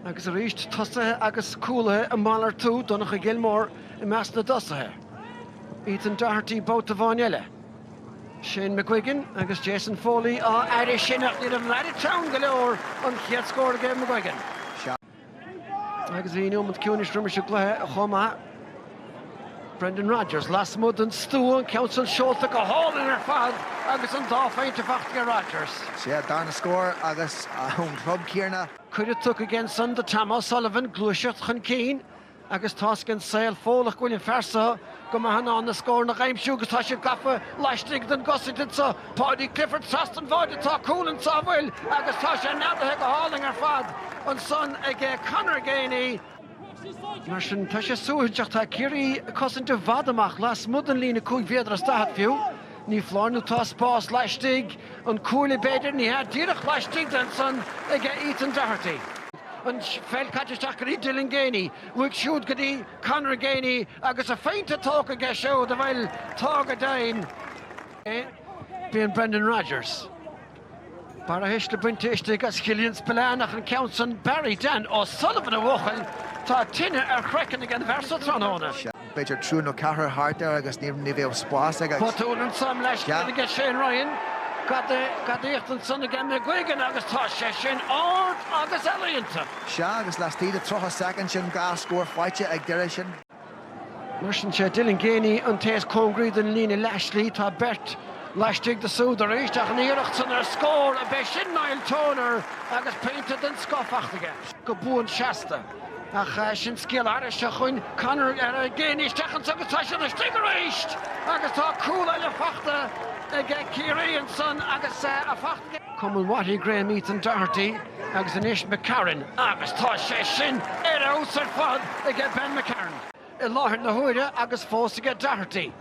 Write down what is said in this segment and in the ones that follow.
Agus arís tosaithe agus cúlaithe ag malartú, Donncha Gilmore i measc na dtosaithe, Ethan Doherty babhta amháin eile, Shane McGuigan agus Jason Foley á fhaire sin ach ní raibh Larry teann go leor an chéad scór aige Shane McGuigan. Sea, agus bhí nóiméad ciúinis roimis an gcluiche chomh maith. Brendan Rogers lasmuigh den stua, an ceann sin seolta go hálainn ar fad agus an dá phointe faighte ag Rogers. Sea, darna scór agus ón chlub céanna. Cuireadh tugtha aige ansan do Tom O'Sullivan gluaiseacht chun cinn agus tá a fhios ag an saol Fódhlach go bhfuil an fear seo go maith in ann na scóranna a aimsiú agus tá sé gafa laistigh den gcosaint anseo, Paudie Clifford trasna an bháide tá cúl anso bhuel agus tá sé neadaithe go hálainn ar fad ansan aige Conor Geaney. Mar sin, tá sé suaithinseach, tá Ciarraí ag cosaint i bhfad amach, lasmuigh den líne cúig mhéadar is daichead fiú. Ní foláir nó tá spás laistigh, an cuaille b'fhéidir, ní hea, díreach laistigh de ansan aige Ethan Doherty. An pheil caite isteach go dtí Dylan Geaney, uaidh siúd go dtí Conor Geaney agus a phointe tógtha aige siúd, bhuel, tá go deimhin, bíonn Brendan Rogers. Barrathuisle bainte istigh as Killian Spillane ach an ceann san Barry Dan O'Sullivan a bhuachaill, tá tine ar chraiceann ag an bhfear seo tráthnóna. B'fhéidir triúr nó ceathrar thart air agus ní bheadh spás aige. Botún anso mo leithscéal aige Shane Ryan, gadaíocht ansan aige McGuigan agus tá sé sin ard agus ealaíonta. Sea agus laistigh de 30 soicind sin dhá scór faighte ag Doire ansin. Mar sin, sé Dylan Geaney an té is cóngaraí don líne leathshlí. Tá beirt laistigh de súd arís ach an iarracht san ar scór ab é sin Niall Toner agus pointe den scoth faighte aige go buan seasta. Ach sin scéal thairis seo chugainn. Conor Geaney isteach anso agus tá sé laistigh arís agus tá cúl eile faighte aige Ciarraí ansan agus é faighte Cumann Watty Graham Ethan Doherty agus anois McCarron agus tá sé sin ar fheabhas ar fad aige Ben McCarron i láthair na huaire agus fós aige Doherty.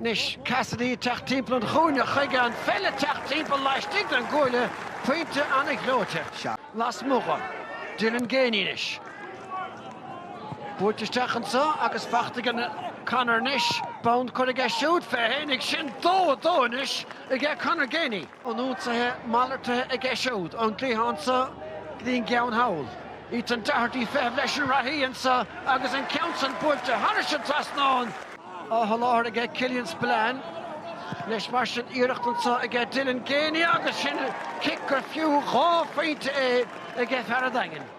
Anois Cassidy ag teacht timpeall an chúinne chuige, an pheil ag teacht timpeall laistigh den gcuaille, pointe an-ghleoite lasmuigh. Dylan Geaney anois. Buailte isteach anseo agus faighte aige Conor anois. Bonn curtha aige siúd, fé fhéinig sin, dó a dó anois aige Conor Geaney. An ionsaithe malartaithe aige siúd, ón gcliathán so go dtí an gceann thall. Ethan Doherty ag feitheamh leis an reathaí anseo agus an ceann san buailte thairis an trasnán. Athsholáthar aige Killian Spillane. Anois mar sin iarracht anseo aige Dylan Geaney agus sin cic gur fiú dhá phointe é aige fear an Daingin.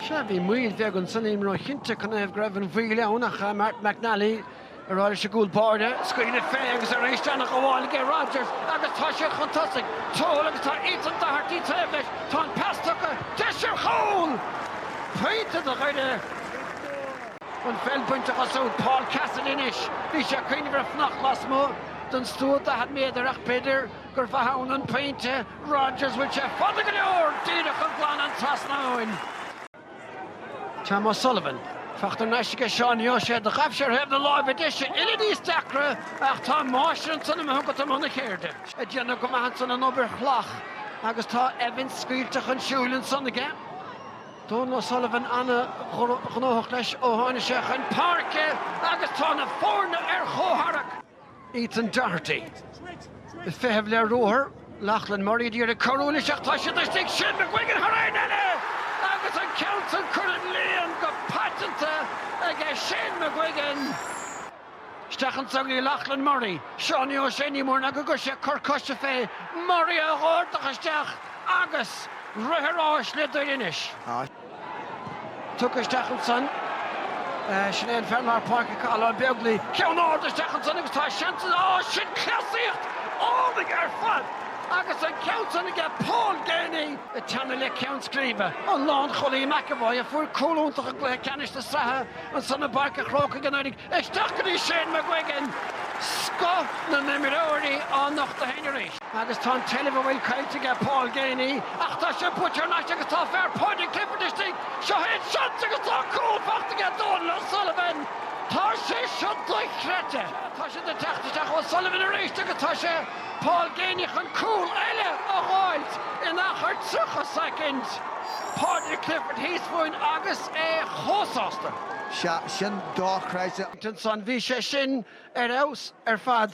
Sea, bhí moill bheag anso, nílim róchinnte, canathaobh go raibh an mhoill ann, ach Martin McNally á rá leis an gcúl báire, scaoileadh fé agus arís an ghabháil aige Rodgers agus tá sé chun tosaigh, Toal agus tá Ethan Doherty taobh leis, tá an pas tugtha, deis ar chúl! Pointe do Dhoire! An pheil bainte de ag siúd Paul Cassidy anois, bhí sé ag cuimhneamh ar fhanacht lasmuigh den stua 40 méadar ach b'fhéidir gurbh ann an pointe, Rodgers, bhfuil sé fada go leor díreach ag glanadh an trasnáin. Tom O'Sullivan, féach tá an nasc aige Seánie O'Shea do ghaibh sé ar thaobh na láimhe deise uile níos deacra ach tá an máistir ansan chugat i mbun a cheirde, ag déanamh go maith ansan an obair shalach agus tá Evans scaoilte chun siúil ansan aige. Dónal O'Sullivan an-ghnóthach leis ó tháini' sé chun páirce agus tá na foirne ar chomhtharrac. Ethan Doherty ag feitheamh le ruathar, Lochlann Murray ag iarraidh cabhrú leis ach tá siad istigh, Shane McGuigan thar aon eile! Agus an ceann san curtha sa líon go paiteanta aige Shane McGuigan! Isteach an t-ionsaí, Lochlann Murray, Seanie O'Shea ní mór ná go gcuirfidh sé cor coise fé Murray Doherty isteach agus rith thar n-ais le Doire anois. Tugtha isteach ansan. Sin é an fear lár páirce acu, Cathal Begley. Ceann ard isteach ansan agus tá seans ann. Á, sin cleasaíocht álainn ar fad! Agus an ceann san aige Paul Geaney! Ag teannadh le ceann scríbe, an lánchúlaí McEvoy, a fuair cúl iontach i gcluiche ceannais na sraithe ansan i bPáirc an Chrócaigh anuraidh. Isteach go dtí Shane McGuigan! Scoth na n-imreoirí á nochtadh féin arís. Agus tá an tseilbh a bhfuil caillte aige Paul Geaney, ach tá sé buailte thar n-ais agus tá Paudie Clifford istigh, seo é an seans agus tá cúl faighte aige Dónal O'Sullivan! Tá sé seo dochreidte! Tá sé ag teacht isteach O'Sullivan arís agus tá sé Paul Geaney chun cúl eile a dh'fháilt in achar 30 soicind! Paudie Clifford thíos fúinn agus é chomh sásta! Sea, sin dochreidte! Ansan bhí sé sin Ar fheabhas ar fad.